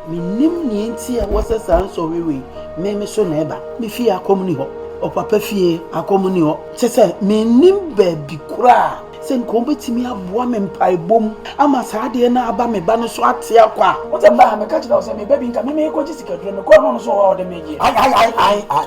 Mennim nea enti a wɔsɛ saa nsɔhwɛ wei. Me, me so na ɛba. Me fie akɔm nni hɔ. Ɔpapa fie akɔm nni hɔ. Kyerɛ sɛ, mennim baabi koraa a sɛ nka wɔbɛtumi aboa me mpaebɔ mu ama saa adeɛ no aba me ba no so atea kwa. Wo sɛ mmaa, meka kyerɛ wo sɛ me ba bi nka me merekɔgye sikaduro, mekɔɔ na ɔno nso wɔ hɔ a ɔde me gyeɛ. Ae, ae, ae, ae, ae.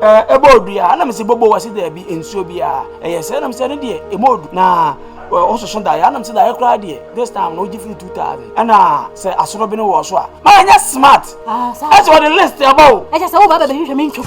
Ɛɛ, ɛbɔ odu a? Ana mese bobo? Wɔse daabi, nsuo biara. Ɛyɛ sɛ? Ana mese ɛno deɛ, ɛmɔ odu. Na wososo daeɛ? Ana mese daeɛ koraa deɛ, this time no wogye firi 2000. Ɛna sɛ asorɔbene wɔ so a, ma ɛnyɛ smart. Ɛsɛ wɔde list ɛba o. Ɛkyɛ sɛ woba bɛbɛhwehwɛ me ntwom.